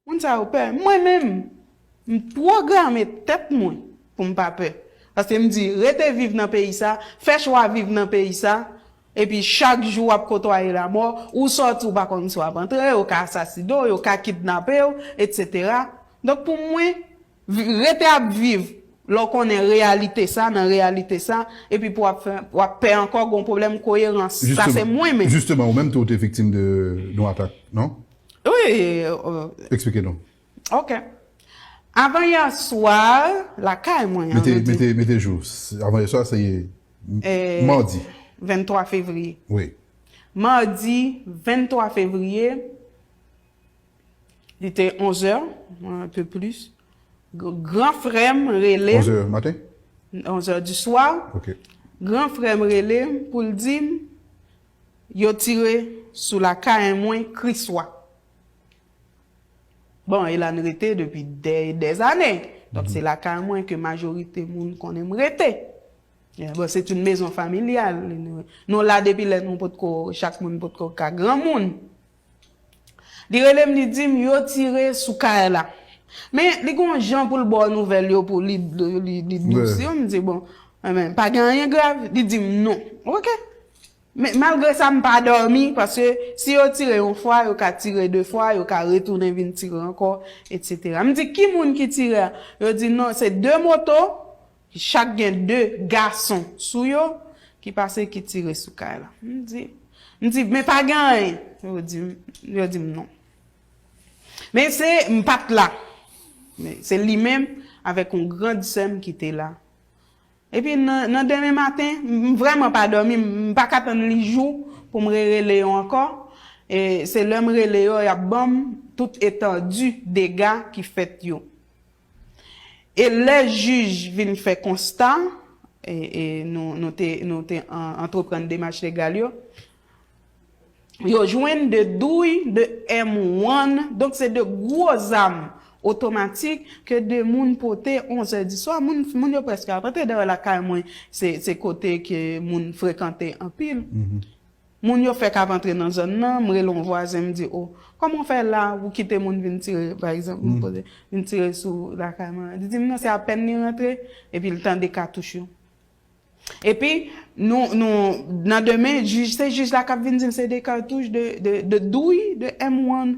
Moun sa yo pè. Mwen menm, m pwograme tèt mwen pou m pa pè. Paske m di, rete viv nan peyi sa, fè chwa viv nan peyi sa, epi chak jou w ap kotwaye lamò, ou sòti ou pa konn si w ap antre, yo ka asasine w, yo ka kidnape w, etsetera. Donk pou mwen. Rete ap viv lè w konnen reyalite sa nan reyalite sa epi pou w ap pè ankò gen yon pwoblèm koyerans. Sa se mwen menm. Jisteman ou menm tou ou te viktim de yon atak non? Wi. Eksplike nou. Ok. Avan yè swa lakay mwen an. Mete mete jou. Avan yè swa se madi. 23 fevriye. Wi. Madi 23 fevriye. Li te onzè, un peu plus. Gran frè m rele m. Onzè maten? Onzè di swa. Ok. Gran frè m rele m pou l di m yo tire sou lakay mwen Kriswa. Bon, e la n rete depi dè e dè zane. Donk se lakay mwen ke majorite moun konnen m rete. Bon, se t youn mezon familyal. Nou la depi lè nou potko, chak moun potko ka granmoun. Li rele m li di m yo tire sou kay la. Men li gen yon jan pou l ba w nouvèl yo pou li dous yo m di bon men pa gen anyen grav li di m non ok. Men malgre sa m pa dòmi paske si yo tire yon fwa yo ka tire de fwa yo ka retounen vin tire ankò etc. M di ki moun ki tire a yo di non se 2 moto Ki chak gen de gason sou yo, ki pase ki tire sou kay la. M di, m di, men pa gen anyen. Yo di m, yo di m non. Men se, m pa t la. Men se li menm avèk yon grand sè m ki te la. Epi nan demen maten, m vrèman pa dòmi, m pa ka tann li jou pou m rerele yo ankò. E se lè m rele yo, y ap ban m tout etandi dega ki fèt yo. E lè jij vin fè konsta, e nou te antreprann demach legal yo, yo jwenn 2 douy, 2 M one, donk se 2 gwo zam otomatik ke 2 moun pote onzè diswa, moun yo prèske ap antre, dayè lakay mwen se kote ke moun frekante anpil, Moun yo fèk ap antre nan zòn nan, m rele yon vwazen m di o, kòman w fè la ou kite moun vin tire pa egzanp m poze, vin tire sou lakay mwen. Li di m non se apèn li rantre epi l tande katouch yo. Epi nou nou nan demen jij se jij la k ap vin di m se 2 katouch de de douy de M one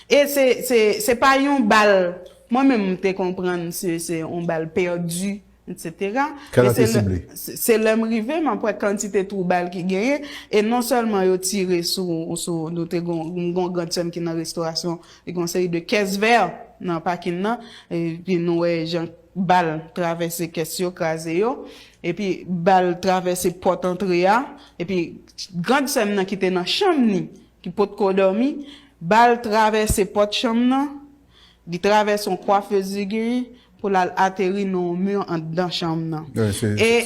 e se se se pa yon bal mwen menm m te konprann se se yon bal pèdi Etc. Kèl an te sible. Se lè m rive m ap wè kantite twou bal ki genyen. E non sèlman yo tire sou, nou te gon, m gon grand sè m ki nan restorasyon, li gon seri de kès vè nan pakin nan. Epi nou wè jan bal travèse kès yo, kraze yo. Epi bal travèse pòt antre a. Epi grand sè m nan ki te nan chanm ni, ki potko dòmi, bal travèse pòt chanm nan, Li travèse yon kwafez zigi pou l al ateri nan yon mur andan chanm nan. E,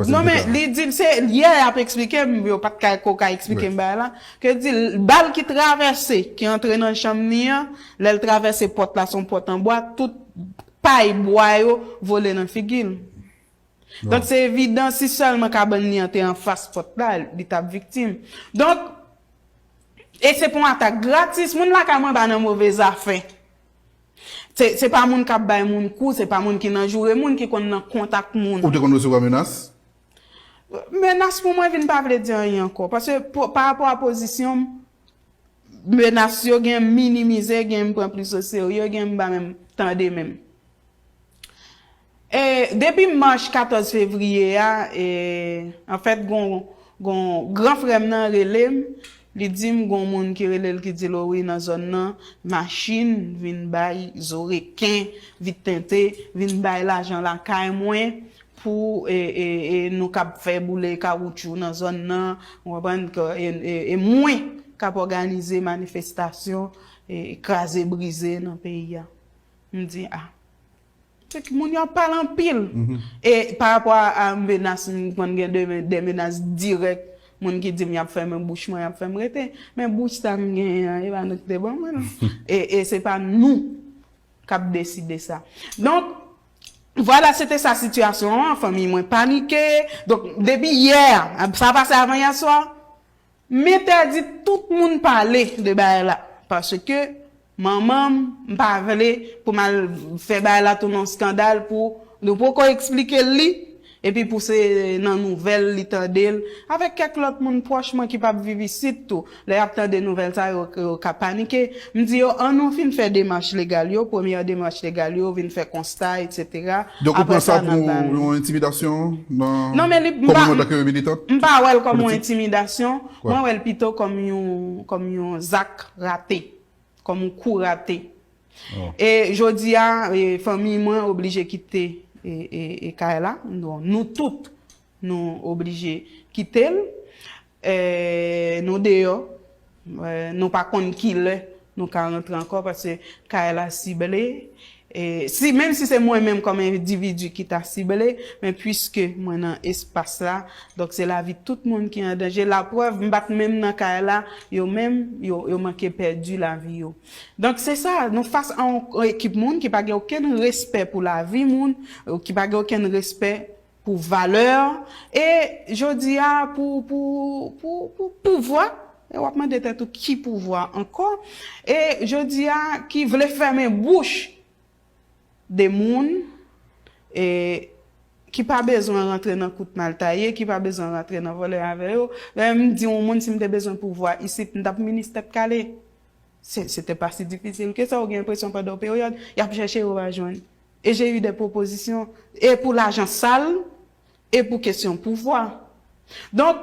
non men li di l se yè y ap eksplike m, yo pa t ko ka eksplike m bagay la, ke l di l bal ki travèse, ki antre nan chanm li an, lè l travèse pòt la, se yon pòt an bwa, tout pay bwa yo vole nan figi l. Donk se evidan si sèlman kabann li an te anfas pòt la, li t ap viktim. Donk, e se pou yon atak gratis, moun lakay mwen pa nan move zafè. Se pa moun k ap bay moun kou, se pa moun ki nan joure moun, ki konn nan kont ak moun. Ou te konn resevwa menas? Menas pou mwen vin pa vle di anyen ankò. Paske pa rapò a pozisyon m, menas yo gen m minimize, gen m pran plis o serye, gen m pa menm tande menm. E depi mach 14 fevriye a e anfèt gon gon gran frè m nan rele m li di m gon moun ki rele l ki di l o wi nan zòn nan machin vin bay zo reken vit tente vin bay lajan lakay mwen pou e e e nou kab fè boule kawoutchou nan zòn nan ou konprann ke e e e mwen k ap òganize manifestasyon e kraze brize nan peyi a m di a. Kèk moun yo ap pale anpil. E pa rapò a menas, m konn gen de menas dirèk, moun ki di m y ap fèmen bouch mwen, y ap fè m rete. Men bouch sa m genyen an, e pa nou ki te ban mwen l. E se pa nou k ap deside sa. Donk, vwala se te sa sitiyasyon an, fanmiy mwen panike. Donk, depi yè, sa pase avan yè swa, M entèdi tout moun pale de bagay la paske manman m pa vle pou m al fè bagay la tounen yon skandal pou nou poko eksplike l li epi pou se nan nouvèl li tande l avèk kèk lòt moun pwòch mwen ki pap viv isit tou lè y ap tande nouvèl sa yo yo ka panike M di yo an nou fin fè demach legal yo, premyè demach legal yo, vin fè konsta etsetera, Donk ou pran sa pou yon entimidasyon nan kòm ou antanke militant politik? M pa wè l kòm yon entimidasyon, mwen wè l pito kòm yon zak rate, kòm yon kou rate. E jodi a fanmiy mwen oblije kite kay la, nou tout nou oblije kite l. Eeh nou deyò nou pa konn kilè nou ka rantre ankò paske kay la sible si menm si se mwen menm kòm endividi ki ta sible men puiske mwen nan espas la donk se lavi tout moun ki an danje la prèv m pat menm nan kay la yo menm yo manke pèdi lavi yo donk se sa nou fas a yon ekip moun ki pa gen okenn respè pou lavi moun ki pa gen okenn respè Pou valè, e jodi a pou, pou, pou, pou pouvwa, e w ap mande tèt ou ki pouvwa ankò, e jodi a ki vle fèmen bouch de moun, e ki pa bezwen rantre nan kout mal taye, ki pa bezwen rantre nan vòlè avè yo. Lè m di yon moun si m te bezwen pouvwa isit m t ap minis tèt kale. Se, se te pa si difisil ke sa, ou gen enpresyon pandan yon peryòd y ap chèche yo pa jwenn. E j'ai eu des propositions e pou lajan sal e pou kesyon pouvwa. Donk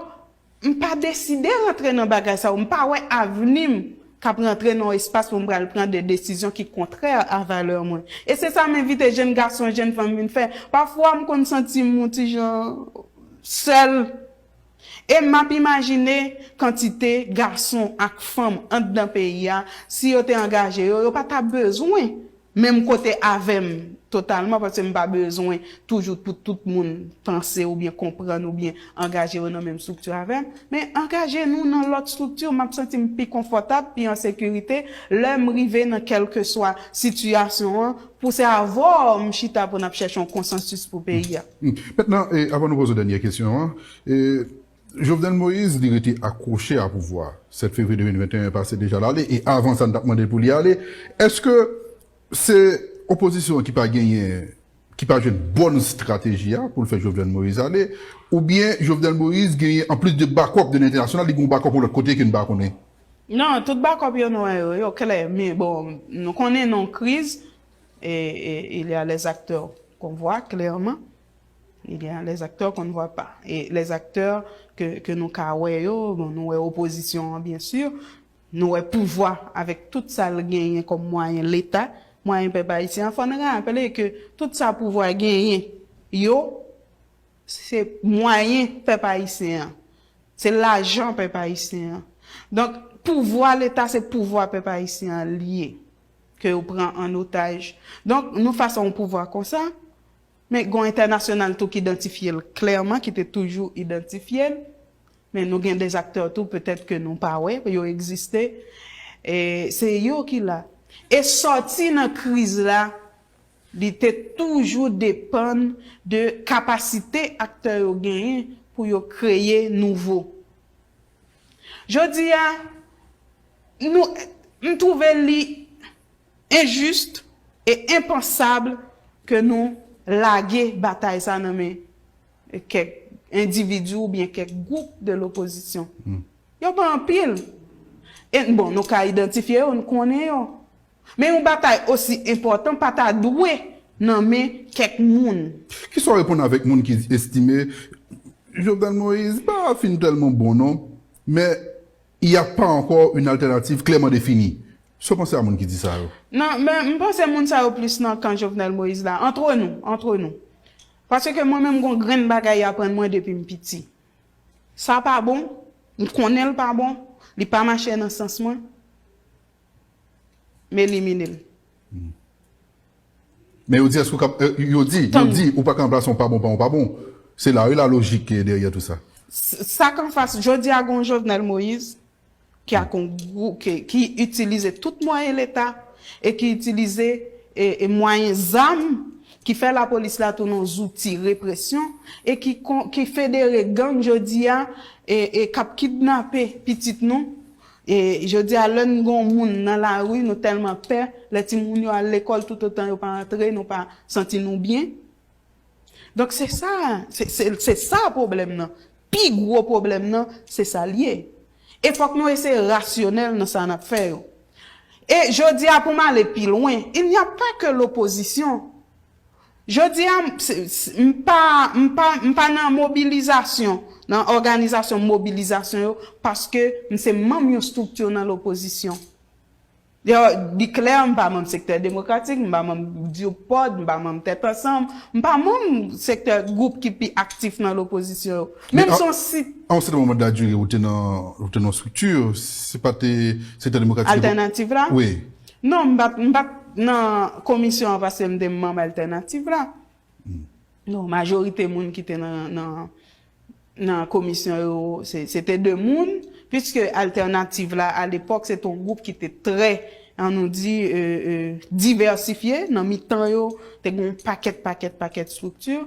m pa deside rantre nan bagay sa yo, m pa wè avni m k ap rantre nan yon espas pou m pral pran de desizyon ki kontrè a valè mwen. E se sa m envite jenn gason, jenn fanm vin fè. Pafwa m konn santi m yon ti jan sèl e m ap imajine kantite gason ak fanm anndan peyi a si yo te angaje yo, yo pa ta bezwen Menm kote avèm totalman paske m pa bezwen toujou pou tout moun panse oubyen konprann oubyen angaje yo nan menm strikti avèm men angaje nou nan lòt strikti map santi m pi konfòtab pi an sekirite lèm rive nan kèlkeswa sitiyasyon an pou se avèw m chita pou nap chèche yon konsansis pou peyi a. Mètnan avan nou poze dènyè kesyon an. Jovenel Moïse li rete akwoche a pouvwa, 7 fevriye 2021 pase deja l ale e avan sa n t ap mande l pou li ale, èske se opozisyon an ki pa genyen, ki pa jwenn bòn strateji a pou l fè Jovenel Moïse ale oubyen Jovenel Moïse genyen anplis de bakòp de lentènasyonal li gen yon bakòp yon lòt kote ke n pa konnen? Non, tout bakòp yo nou wè yo, yo klè men bon nou konnen non kriz e il y a les acteurs qu'on voit clairement. Li gen les acteurs qu'on ne voit pas. E les acteurs ke ke nou ka wè yo, bon nou wè opozisyon an byen sur, nou wè pouvwa avèk tout sa l genyen kòm mwayen leta, mwayen pèp ayisyen an. Fò n raple ke tout sa pouvwa genyen yo se mwayen pèp ayisyen an. Se lajan pèp ayisyen an. Donk pouvwa leta se pouvwa pèp ayisyen an l ye ke yo pran an otaj. Donk nou fas a yon pouvwa konsa, Men gon entènasyonal tou ki dantifye l klèman ki te toujou idantifye l. Men nou gen des acteurs tou petèt ke nou pa wè, yo egziste e se yo ki la. E sòti nan kriz la li te toujou depann de kapasite aktè yo genyen pou yo kreye nouvo. Jodi a nou, m twouve li Injuste e impensable ke nou lage batay sa nan men kèk individu ou byen kèk gwoup de l'opposition. Yo pa anpil. E bon nou ka idantifye yo, nou konnen yo. Men yon batay osi enpòtan pa ta dwe nan men kèk moun. Kisa w reponn avèk moun ki estime Jovenel Moïse pa fin tèlman bon non, men Y a pas encore une alternative clairement définie. Sa w panse a moun ki di sa yo? Non, men m panse moun sa yo plis nan kan Jovenel Moïse la. Entre nou, entre nou. Paske mwen menm gon grenn bagay y aprann mwen depi m piti. Sa pa bon, m konnen l pa bon, li pa mache nan sans mwen, m elimine l. Men yo di eske ou kap yo di yo di ou pa ka anplase yon pa bon pa yon pa bon se la wi la lojik ki dèryè tou sa. Sak anfas jodi a gen yon Jovenel Moïse ki ak yon gwoup ki itilize tout mwayen leta e ki itilize e mwayen zam ki fè lapolis la tounen yon zouti represyon e ki ki federe gang jodi a e kap kidnape pitit nou E jodi a lè n gon moun nan lari nou tèlman pè, lè timoun yo al lekòl toutotan yo pa antre nou pa santi nou byen. Donk se sa, se sa pwoblèm nan. Pi gwo pwoblèm nan se sa l ye. E fòk nou eseye rasyonèl nan sa n ap fè yo. E jodi a pou m ale pi lwen, il n'y a pas que l'opposition Jodi a, m pa, m pa, m pa nan mobilizasyon, nan òganizasyon mobilizasyon yo, paske m se manm yon estrikti nan lopozisyon. Li klè, m pa manm Sektè Demokratik, m pa manm DIRPOD, m pa manm Tèt Ansanm, m pa manm sektè, gwoup ki pi aktif nan lopozisyon yo. Men m se yon si. Men, a yon sèten moman de la dire, ou te nan, ou te nan yon estrikti, se pa te Sektè Demokratik. Altènativ la? Wi. Non, m pat m pat nan komisyon an paske m te manm Altènativ la. Non, majorite moun ki te nan nan nan komisyon yo se se te de moun, piske Altènativ la alepòk se te yon gwoup ki te trè an nou di divèsifye, nan mitan yo te gen yon pakèt pakèt pakèt estrikti,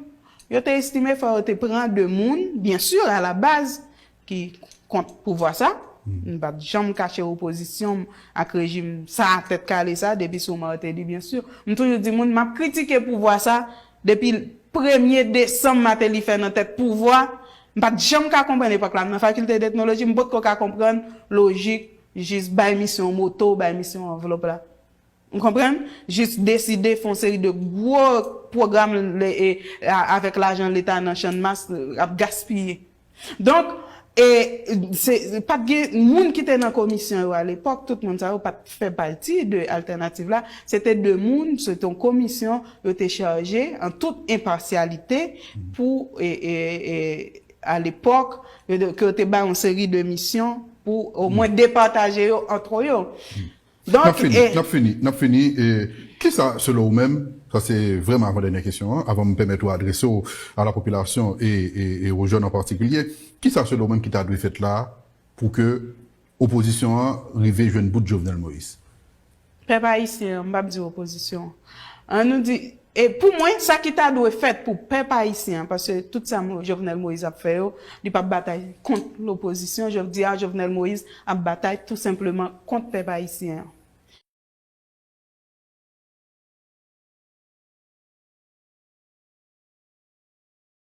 yo te estime fò yo te pran de moun, byensi alabaz ki kont pouvwa sa, m pap janm kache opozisyon m ak rejim sa tèt kale sa depi sou Martelly byen si, m toujou di moun map kritike pouvwa sa depi premye desanm Martelly fè nan tèt pouvwa, m pat janm ka konprann epòk la m nan fakilte d'etnoloji m potko ka konprann lojik jis bay misyon moto, bay misyon anvlòp la. Ou konprann? Jis deside fon seri de gwo pwogram avèk lajan leta nan channmas ap gaspiye. Donk, e, se, pa t gen, moun ki te nan komisyon yo alepòk, tout moun sa yo pa t fè pati de Altènativ la. Se te de moun, se te yon komisyon yo te chaje an tout enpasyalite pou, e, e, e, alepòk, ke yo te bay yon seri de misyon pou omwen depataje yo antre yo. Nap fini, nap fini, nap fini e kisa selon ou menm, sa se vrèman avan dènyè kesyon an, avan m pèmèt ou adrese w a la popilasyon e e o jèn an patikilye, kisa selon ou menm ki ta dwe fèt la pou ke opozisyon an rive jwenn bout Jovenel Moïse? Pèp ayisyen an, m pap di opozisyon an, an nou di E pou mwen, sa ki ta dwe fèt pou pèp ayisyen an, paske tout sa Jovenel Moïse ap fè yo, li pa p batay kont lopozisyon, jodi a Jovenel Moïse ap batay tou senpleman kont pèp ayisyen an.